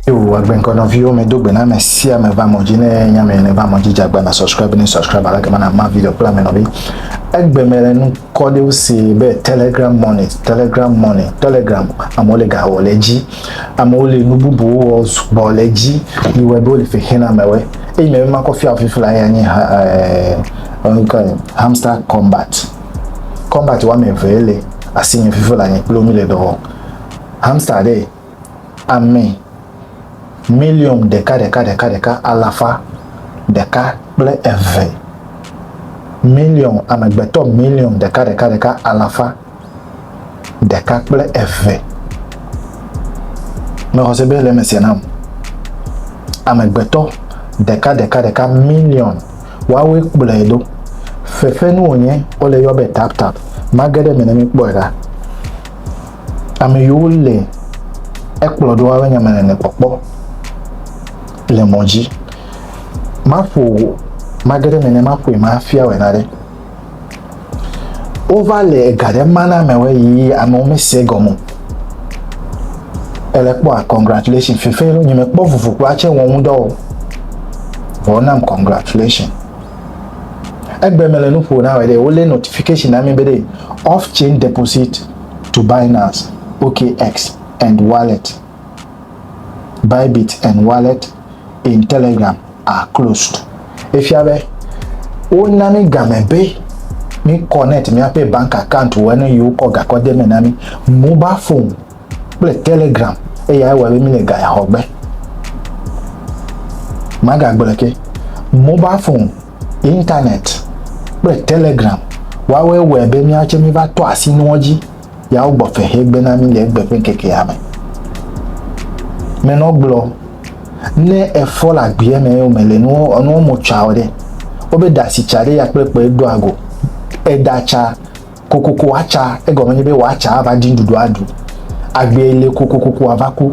Yo, agbenkɔ nɔviwo me do gbe na me sia me va mɔdzi ne nya me ne va mɔdzi dza gba na subscribe ne subscribe ala kema na ma video kple ame nɔvi. Egbe me le nu kɔ de se be Telegram money, Telegram money, Telegram amewo le ga wɔ le dzi. Amewo le nu bubu wɔ sugbɔ le dzi. Yi wɔ be wo le fe hena amewe. Eyi me ma kɔ fia fifi la ya nye eh hamster combat. Combat wa me ve le asi nye fifi la nye kplo mi le do. Hamster de ame miliɔn ɖeka ɖeka ɖeka ɖeka alafa ɖeka kple eve, miliɔn amegbetɔ miliɔn ɖeka ɖeka ɖeka alafa ɖeka kple eve. Mexɔ se be le eme sia nam. Amegbetɔ ɖeka ɖeka ɖeka miliɔn woawoe kplɔe ɖo. Fefenu wònye wole yɔ be tap tap. Mage ɖe eme ne míkpɔe ɖa. Ame yiwo le ekplɔ ɖo abe nya mele ne kpɔkpɔ le mɔ dzi. Maƒo mage ɖe me ne maƒoe mafia wɔ na ɖe. Wova le ega ɖe ma na amewo yi amewo mesie gɔme. Ele kpɔa congratulation fefe ɖo nye mekpɔ vuvu kpɔ atsɛ wɔ ŋudɔ o. Vɔ nam congratulation. Egbe mele nu ƒo na wɔ ɖe wole notification na mi be ɖe off chain deposit to Binance, OKX and Wallet, Bybit and Wallet in Telegram are closed. Efia be wona mi game be mi connect miaƒe bank account wɔ ne yewo kɔ gakɔ de me na mi mobile phone kple Telegram eya ewɔ be mi le gaya xɔ gbe. Magagblɔ ke mobile phone Internet kple Telegram woawɔe wɔe be míawo tsɛ míva tɔ asi nuwo dzi ya wogbɔ fe he gbe na mí le egbe ƒe ŋkekea me. Menɔ gblɔ, Ne efɔ le agbea me eye wòmele nuwo enuwo mo tsa o ɖe, wobe da si tsa ɖe ya kple kpɔe doa go. Eda tsa kokoko wòatsa, egɔme nye be wòatsa ava ɖi nuɖuɖu aɖu. Agbee li kokokoko wòava ku.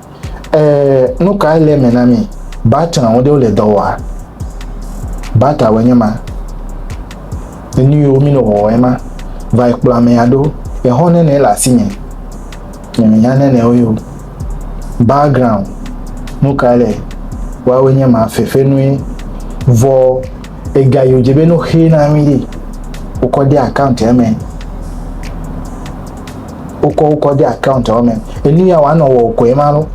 Ɛɛ, nu kae le eme na mí? Battery ɖewo le dɔ wɔa? Battery nye ma. Enu yiwo mí nɔ wɔwɔ ema. Va yi kplɔ amea ɖo. Exɔ nɛnɛ le asi nye. Nye me nya nɛnɛ wo yio. Background, nu kae le? Woawoe nye ma, fefe nue. Vɔ, ega yio dze be ne wo xe na mí ɖe, wo kɔ de account eme. wokɔ wokɔ de account wo me enu ya wòanɔ wɔ kɔe ma lo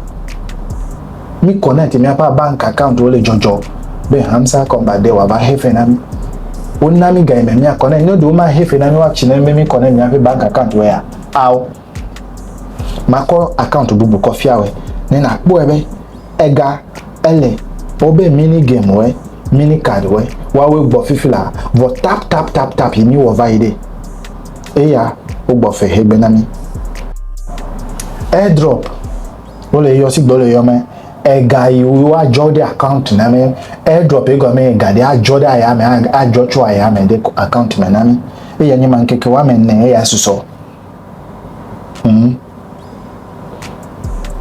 mi connect miaƒe bank account wo le dzɔdzɔ be hamsa kɔmba de wòava he fe na mi wona mi gayi me mia connect ne ɖewo ma he fe na mi woatsi ne be mi connect miaƒe bank account wo ya ao makɔ account bubu kɔ fia wɔ ne nakpɔe be ega ele wobe mini game wɔ mini card wɔ woawoe gbɔ fifi la vɔ tap tap tap tap yi mi wɔ va yi ɖe Eya wogbɔ fe he gbena mi. Airdrop wole yɔ sigbe wole yɔ me ega yi wo adzɔ ɖe account na me. Airdrop yi gɔme ega ɖe adzɔ ɖe aya me adzɔ tso aya me ɖe account me na mi. Eya nye ma ŋkeke wa me ne eya susɔ. Mm.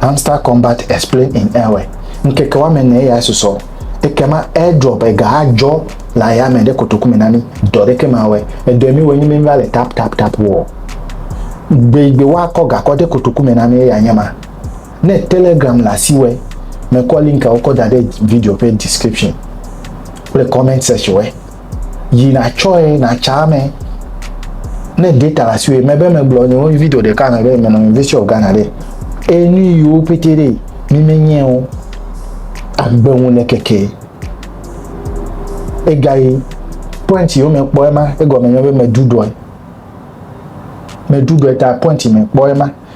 Hamster Combat Explained in Ewe, Ŋkeke woame enee ya susɔ, ekema airdrop ega adzɔ le ayame ɖe kotoku me na mí, dɔ ɖeke mawɔe, edɔe mí wɔ enye mí va le tap tap tap wɔ. Gbe yi gbe woakɔ ga kɔ de kotoku me na mí eya nye ma. Ne Telegram le asiwɔe, mekɔ linkawo kɔ da ɖe video ƒe description kple comment section we. yi natsɔe natsa ame ne data le asiwò mebe megblɔ nyewo video ɖeka me be menɔ University of Ghana ɖe eye nu yiwo pete ɖe mi menye o agbe ŋu le keke egayi point yiwo mekpɔ ema egɔme nye be meɖuɖɔe meɖuɖɔe ta point mekpɔ ema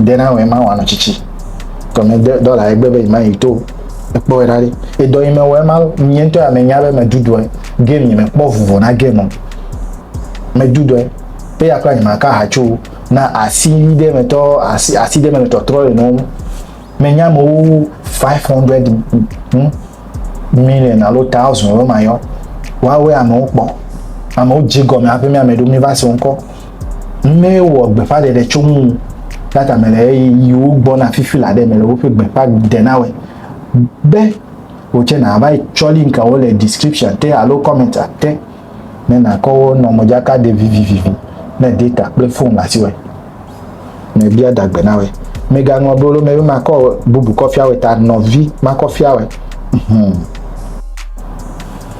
ɖe na wɛ ma wanɔ tsitsi tɔmɛ de dɔla egbe be ima yi to ekpɔ wɛ ɖaɖi edɔ yi me wɛ ma nye ŋutɔ ya me nya be me dudu ɛ game yi me kpɔ vuvo na game o me dudu ɛ pe ya kpla nyima ka hatso na asi ɖe me tɔ asi asi ɖe me le tɔtrɔ yi nɔ me nya me wo 500 hm million alo thousand wo ma yɔ wa wɛ amewo kpɔ amewo dzi gɔme aƒe mi ame ɖo mi va se ŋkɔ Ame wɔ gbeƒãɖeɖe tso ŋu la tame le ɣeyiɣiwo gbɔna fifi la ɖe me le woƒe gbeƒãdenawɔe be wò tsɛ nàva yi tsɔ linkawo le description te alo kɔmɛntia te ne nàkɔ wo nɔ modzaka ɖe vivivi ne data kple fon le asiwòe. Mebia dagbe na wòe. Mègaŋlɔ bolo me be makɔ bubu kɔfiawòe ta nɔvi makɔfiawòe. Hum.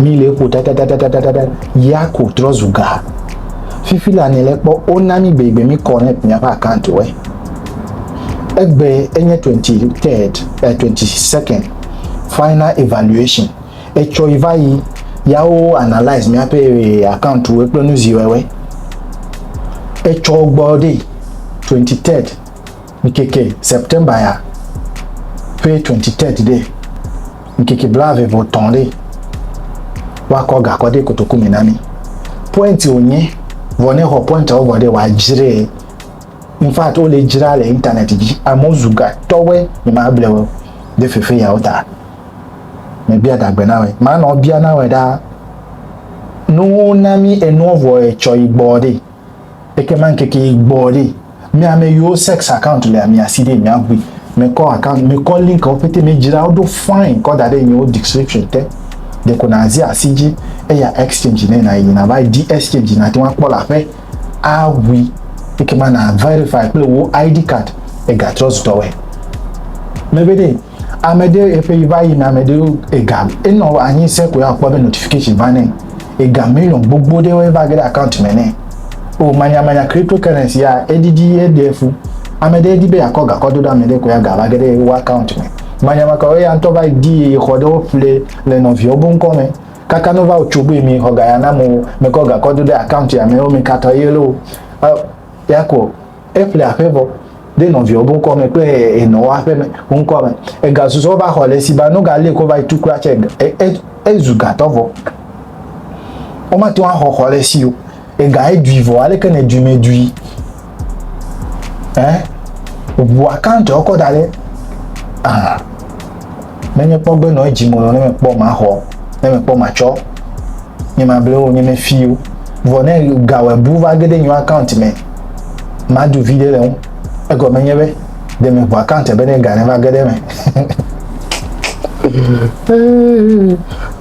Mi le eƒo ɖaɖaɖaɖaɖaɖa ya ko trɔ zu ga. Fifi la ne le kpɔ o na mi bebe mi connect mi apa account we. Egbe enye 23rd, eh, 22nd final evaluation. Etsɔ yi va yi ya o analyze mi ape eh, account we kple nu zi wewe. Etsɔ gbɔ de 23rd. Ŋkeke September ya ƒe 23 ɖe, ŋkeke blaeve vɔ tɔ̃ ɖe, woakɔ gakɔ ɖe kotoku me na mi. Point wònye, vɔ ne xɔ pointawo vɔ ɖe, wòadzree. In fact, wole dzra le internet dzi. Amewo zu gatɔwɔe, nyemable wo ɖe fefe yawo ta. Mebia dagbe na wɔe. Manɔ bia na wɔe ɖaa. Nuwo na mi enuɔ vɔ etsɔ yi gbɔɔ ɖe. Ekema ŋkeke yi gbɔ ɖi. Mi ame yiwo sex account le mia si ɖi mia ʋui. Mi kɔ account, mi kɔ link wo pete mi dzra wo ɖo fine kɔ da ɖe nye wo description te. De ko na zi asi dzi eya exchange ne na yi na va di exchange na te wa kpɔ la ƒe a ʋui. Ekema na verify kple wo ID card ega trust dɔ wɛ. Me be ɖe. Ame ɖe eƒe yi va yina, ame ɖewo ega enɔ anyi se ko ya kpɔ be notification va nɛ. Ega million gbogbo ɖewo eva ge ɖe account me nɛ. O manyamanya cryptocurrency ya edidi eɖe fu. Ame ɖe di be yakɔ gakɔ do ɖe ame ɖe ko ya ga va ge ɖe wo account me. Manyamanya kawo eya ŋutɔ va di ye xɔ ɖe wo ƒle le nɔviawo bo ŋkɔ me. Kaka no va wo tso be mi xɔ ga ya na mo mekɔ gakɔ do ɖe account ya me wo me katɔ ye lo. E ya ko. eƒle aƒe vɔ ɖe nɔviawo be ŋkɔ me kple enɔ wo aƒe me wo ŋkɔ me egasusɔ va xɔ le si ba nu galé ko va yi tu kura tse ezu gatɔ vɔ womate ŋu axɔ xɔ le si o ega edui vɔ aleke ne dui me dui ɛ ʋua kantɔ kɔ da ɖe aha. Menye kpɔ gbe nɔ edzi mɔnɔ ne mekpɔ maxɔ, ne mekpɔ matsɔ nye mablewo nye me fiwo. Vɔ ne gawɔe bu va ge ɖe nyo account me, madu viɖe le ŋu. Egɔme nye be de me ŋu account be ne ga ne va ge ɖe me.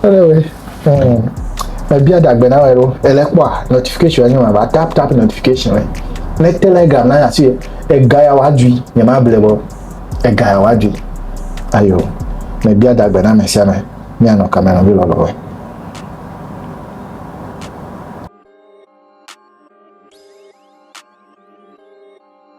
Anyway, hmm, me bia dagbe na wɛ ɖo. Ele kpɔa notification nye ma va tap tap notification wɛ. Ne telegram na asi ega ya wa dui nye mable bɔ. Ega ya wòadui. Ayo, mebia da gbe na ame sia ame, míanɔ kame nɔvi lɔlɔ̃woe.